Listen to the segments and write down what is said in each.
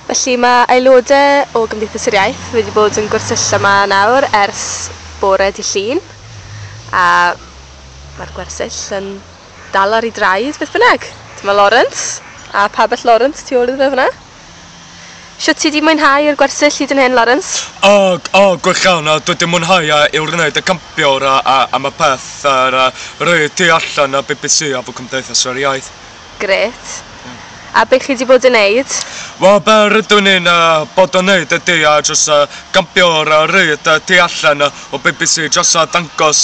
Felly, mae aelodau o Gymdeithas yr Iaith wedi bod yn gwersylla 'ma nawr ers bore dydd Llun, a mae'r gwersyll yn dal ar ei draed beth bynnag. Dyma Lawrence, a pabell Lawrence tu ôl iddo fe fan'na. Shwt ti 'di mwynhau yr gwersyll hyd yn hyn, Lawrence? O, o, gwych iawn, a dwi 'di mwynhau a i wrneud y campiwr a a am y peth a ra rei y tu allan a bbc a fo Cymdeithas yr Iaith. Grêt. A be chi 'di bod yn neud? Wel be rydw i'n bod yn neud ydi jyst campio ar y ryd tu allan o bbc jyst dangos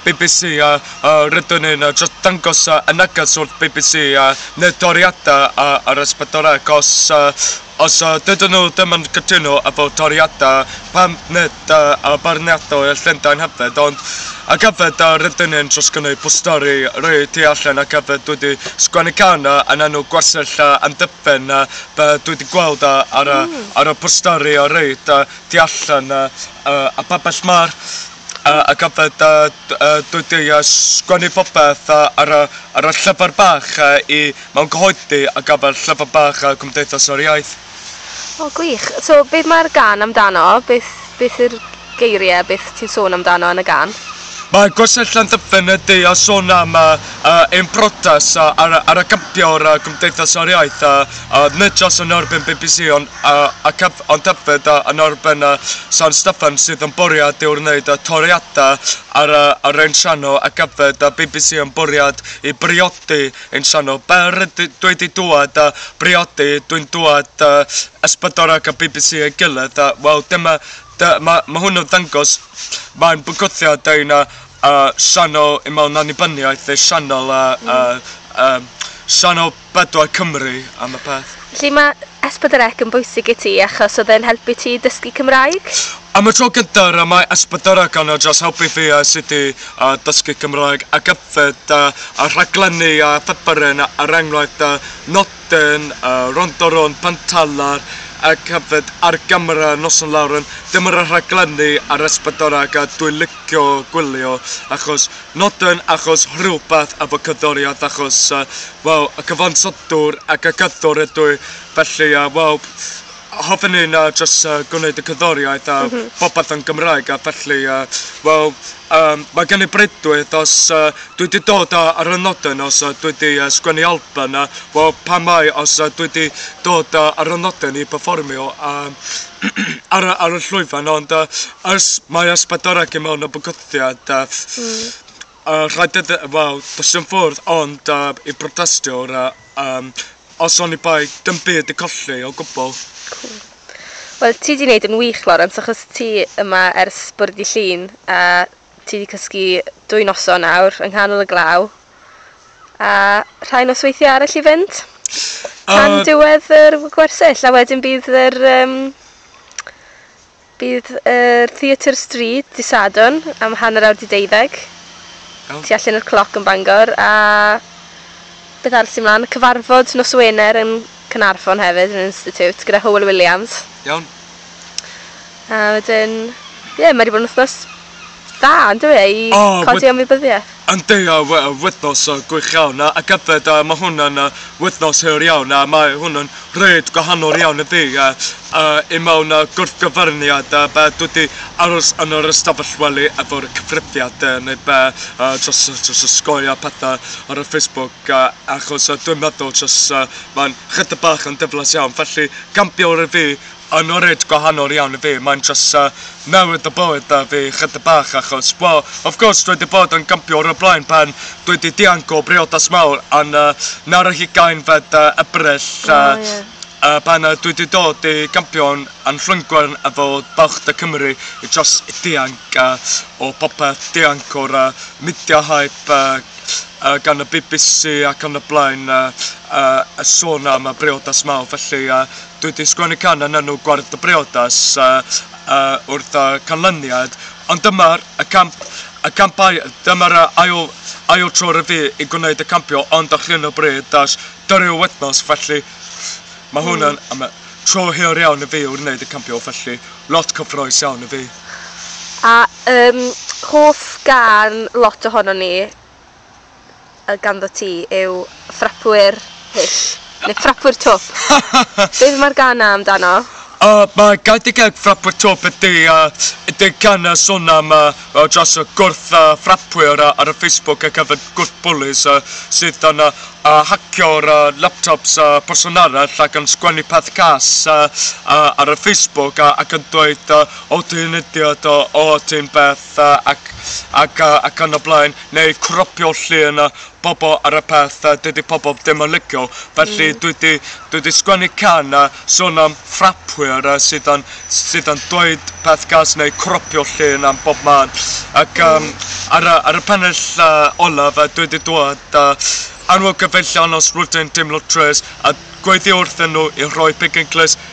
bbc rydw i'n jyst dangos y neges wrth bbc neu toriadau ar S4C os Os dydyn nhw ddim yn cytuno efo toriadau pam nid y beirniadau y Llundain hefyd ond ac hefyd yr ydyn ni'n trosgynnu posteri rhoi tu allan ac hefyd dwi di sgwennu can yn enw gwersyll amddiffyn be dwi di gweld ar y posteri a rhoi tu allan y pabell ma'r a gadael dy dwydiau a sgwennu popeth ar y llyfr bach i mewn cyhoeddi ar gyfer Llyfr Bach Cymdeithas yr Iaith. O gwych. So beth mae'r gân amdano? Beth beth yw'r geiriau? Beth ti'n sôn amdano yn y gân? Mae Gorsedd Llanddyfn y du a sôn am ein protas ar gyfio'r Cymdeithas yr Iaith, nid jyst yn erbyn bbc ond ac hefyd. Ond tybed a yn erbyn y San Steffan sydd yn bwriad i'w wneud y toriadau ar y ar ein sianel ac yfed y bbc yn bwriad i briodi ein sianel? Be rydw dwi di dwad a briodi dwi'n dwad y Ysbydor ac y bbc ei gilydd a wel dyma dy- ma ma hwn yn ddangos mae'n bygwthiad ein y y sianel i mewn annibyniaeth ei sianel y y y sianel Bydwai Cymru am y peth. Felly mae S4C yn bwysig i ti achos oedd e'n helpu ti i dysgu Cymraeg? Am y tro gyntaf y mae S4C yn dros helpu fi a sut i dysgu Cymraeg ac yfed da a rhaglenni a pheperin er enghraifft da nodyn Rondo Rownd Pantalar ac hefyd ar gamera Noson Lawr yn dyma rhaglenni ar S4C a dwi'n licio gwylio achos Nodyn achos rhywbeth efo cyddoriad achos yy wel y cyfansodwr ac y cyddwr ydw i felly yy wel hoffen i'n yy jyst yy gwneud y cyddoriaeth a popeth yn Gymraeg a felly yy wel yym mae gen i breuddwyd os yy dwi 'di dod yy ar y nodyn os yy dwi 'di yy sgwennu albym yy wel pam mai os yy dwi 'di dod yy ar y nodyn i perfformio yym ar y ar y llwyfan ond yy Os mae ysbyddoriaeth i mewn o bygythiad a a rhedeg y wel does dim ffordd ond a i protestio a yym os oni bai dim byd i colli o gwbl. Cŵl. Wel ti 'di neud yn wych Lawrence achos ti yma ers bore dy' Llun a ti 'di cysgu dwy noson nawr yng nghanol y glaw a rhai nosweithie arall i fynd tan diwedd yr w- gwersyll a wedyn bydd yr yym Bydd yr Theatr Stryd dydd Sadwrn am hanner awr 'di deuddeg, Iawn. tu allan i'r Cloc yn Bangor, a beth arall sy' mlan? Cyfarfod nos Wener yn Caernarfon hefyd, yn yr Institute, gyda Hywel Williams. Iawn. A wedyn, ie, mae 'di bod yn wythnos Da, yn dyw e, i O, wed- codi ymwybyddiaeth. Yndi, a we- a wythnos yy gwych iawn a ac yfed a ma' hwn yn yy wythnos hir iawn a mae hwn yn reit gwahanol iawn i fi yy yy i mewn yy gwrthgyferniad yy be' dwi 'di aros yn yr ystafell wely efo'r cyfrifiad yy neu be' yy jyst yy jyst y sgoi a pethe ar y Facebook yy achos yy dwi'n meddwl jyst yy ma'n chydig bach yn diflas iawn felly camp bio'r i fi Yn oed gwahanol iawn i fi, mae'n jyst newid y bywyd 'da fi chydig bach achos, wel, of course, dwi 'di bod yn gympio o'r blaen pan dwi 'di dianc o briodas mawr yn yy nawr ar hugain fed yy Ebrill yy... O ie. ...yy pan yy dwi 'di dod i gympio'n yn Llwyngwern efo Balch De Cymru i jyst dianc yy o popeth, dianc o'r yy midia hype yy yy gan y bee bee see ac yn y blaen yy yy y sôn am y briodas mawr felly yy Dwi 'di sgwennu can yn enw Gwarth y Briodas wrth y canlyniad, ond dyma'r ail tro i fi i gwneud y campio ond ar hyn o bryd does dim rhyw wythnos felly mae hwn yn y tro hir iawn i fi i wneud y campio felly lot cyffrous iawn i fi. A hoff gân lot ohonon ni. y ganddo ti yw ffrapwyr hyll, neu ffrapwyr twp. Beth mae'r gan 'na amdano? O, mae gan dy geg ffrapwyr twp yn du a dy gan yn son am a dros y gwrth a ffrapwyr ar y Facebook ac hefyd gwrth bwlis a sydd yn a hacio'r a laptops a person arall ac yn sgwennu peth cas a a ar y Facebook a ac yn dweud a o ti'n idiot o o ti'n beth pethau ac ac yy ac yn y blaen neu cropio llun a bobl ar y peth a dydi pobl ddim yn licio felly dwi 'di dwi 'di sgwennu can a sôn am ffrapwyr a sydd yn sydd yn dweud peth gas neu cropio llun am bob man ac yym ar y ar y pennill yy olaf a dwi 'di dweud a anwyl gyfeillion os rwyt yn teimlo trist a gweiddi wrthyn nhw i roi pigyn clust